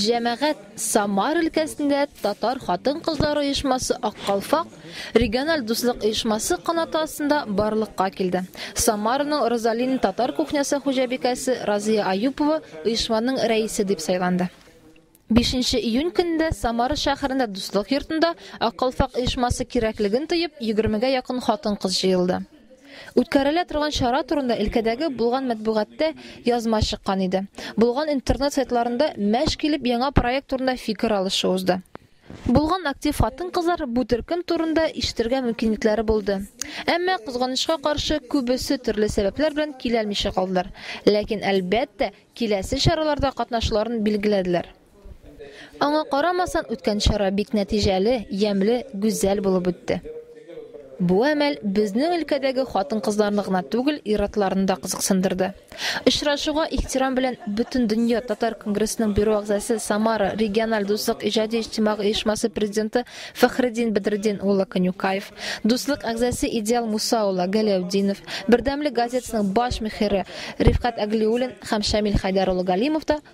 Җәмәгать Самар өлкәсендә Татар хатын-кызлары оешмасы Ак калфак региональ дуслык оешмасы канаты астында барлыкка килде. Самараның Розалин татар кухнясы хуҗабикәсе Разия Аюпова оешманың рәисе дип сайланды. Бишенче июнь көнендә Самара шәһәрендә Дуслык йортында Ак калфак оешмасы кирәклеген тоеп, егермегә якын хатын-кыз җыелды. Үткәрелә торган чара турында өлкәдәге булган мәтбугаттә язма чыккан иде. Булган интернет сайтларында мәш килеп яңа проект турында фикер алышу узды. Булган актив хатын-кызлар бу төркем турында ишетергә мөмкинлекләре булды. Әмма, кызганычка каршы, күбесе төрле сәбәпләр белән киләлмичә калдылар. Ләкин, әлбәттә, киләсе чараларда катнашуларын билгеләделәр. Аңа карамасан, үткән чара бик нәтиҗәле, ямьле, гүзәл булып үтте. Бу әмәл безнең өлкәдәге хатын-кызларны гына түгел, ир-атларны да кызыксындырды. Очрашуга ихтирам белән Бөтендөнья татар конгрессының бюро әгъзасы, Самара региональ дуслык иҗади-иҗтимагый оешмасы президенты Фәхреддин Бәдретдин улы Конюкаев, дуслык әгъзасы Идеал Муса улы Галәүтдинов, Бердәмлек газетасының баш мөхире Рифкать Әглиуллин һәм Шамил Хәйдәр улы Галимов та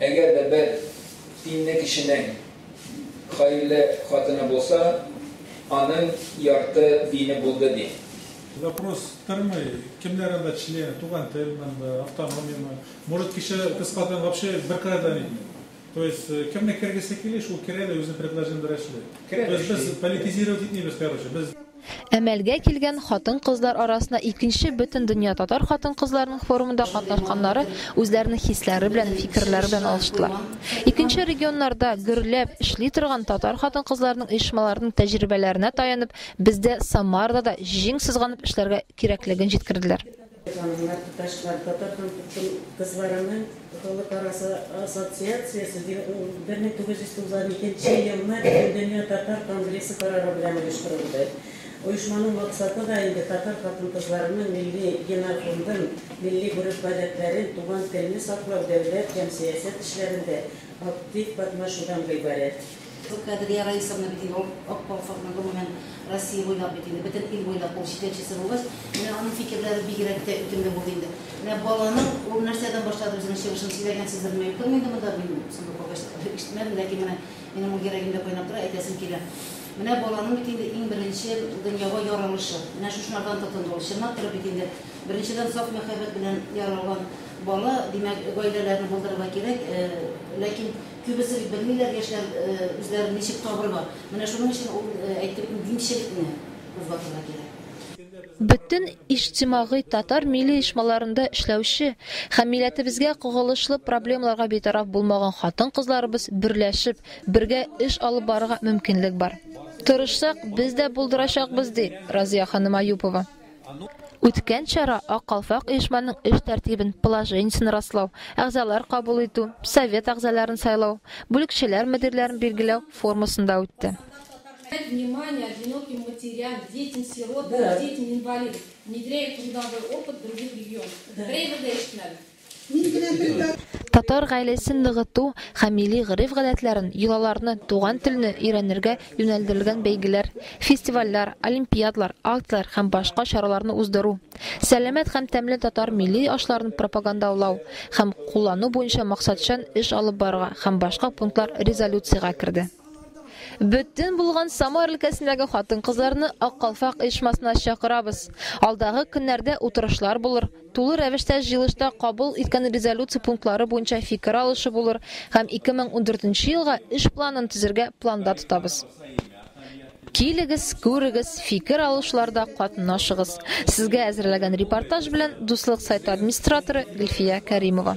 Әгәр дә бер тинле кешенең хәерле хатыны булса, аның ярты дине булды, ди. Вопрос тормый, кемнәр анда члены, туган тел монда, автономиямы, может кеше кыз хатын вообще бер кырыйдан инде. То есть кемне кергесе кили, шул керә дә үзен предложениеләр эшли. То есть без политизировать итмибез короче, без. Әмәлгә килгән хатын-кызлар арасында икенче Бөтендөнья татар хатын-кызларының форумында катнашканнары үзләренең хисләре белән, фикерләре белән алыштылар. Икенче регионнарда гөрләп эшли торган татар хатын-кызларының оешмаларының тәҗрибәләренә таянып, бездә Самарада да җиң сызганып эшләргә кирәклеген җиткерделәр. Ханымнар, туташлар, Татар хан-тутын кызларының халыкара ассоциациясе 1992 елны Бөтендөнья татар конгрессы карары белән оештырылды. Оешманың максаты да инде татар хатын-кызларының милли генофондын, милли гореф-гадәтләрен, туган телне саклау дәүләт һәм сәясәт эшләрендә актив катнашудан гыйбарәт. Юк, Кадрия Раисовна бит инде ул Ак колхозны, гомумән, Россия буйлап бит инде, бөтен ил буйлап ул җитәкчесе булгач, менә аның фикерләре бигрәк тә үтемле булды инде. Менә баланың ул нәрсәдән башлады үзенең чыгышын сөйләгәнсездерме, юктырмы инде монда, мин соңгы калгач ишетмәдем, ләкин менә минем ул йөрәгемдә кайнап тора, әйтәсем килә. Менә баланың бит инде иң беренче дөньяга яралышы, менә шушылардан тотынды ул. Чынлап торып бит инде, беренчедән, саф мәхәббәт белән яралган бала, димәк, гаиләләрне булдырырга кирәк, ләкин, Күбесе бит белмиләр яшьләр үзләрен ничек табырга. Менә шуның өчен ул әйтеп димчелекне кузгатырга кирәк. Бөтен иҗтимагый татар милли оешмаларында эшләүче һәм милләтебезгә кагылышлы проблемаларга битараф булмаган хатын-кызларыбыз берләшеп, бергә эш алып барырга мөмкинлек бар. Тырышсак, без дә булдырачакбыз, ди Разыя ханым Аюпова. Үткән чара Ак калфак оешманың эш тәртибен, положениесен раслау, әгъзалар кабул итү, совет әгъзаларын сайлау, бүлекчәләр мөдирләрен билгеләү формасында үтте. Мин генә бер Татар гаиләсен ныгыту һәм милли гореф-гадәтләрен, йолаларны, туган телне өйрәнергә юнәлдерелгән бәйгеләр, фестивальләр, олимпиадлар, акцияләр һәм башка чараларны уздыру, сәламәт һәм тәмле татар милли ашларын пропагандаулау һәм куллану буенча максатчан эш алып барырга һәм башка пунктлар резолюциягә керде. Бөтен булган Самар өлкәсендәге хатын-кызларны Ак калфак оешмасына чакырабыз. Алдагы көннәрдә утырышлар булыр, Тулы рәвештә җыелышта кабул иткән резолюция пунктлары буенча фикер алышу булыр һәм 2014 елга эш планын төзергә планда тотабыз. Килегез, күрегез, фикер алышларда катнашыгыз. Сезгә әзерләгән репортаж белән Дуслык сайты администраторы Гөлфия Кәримова.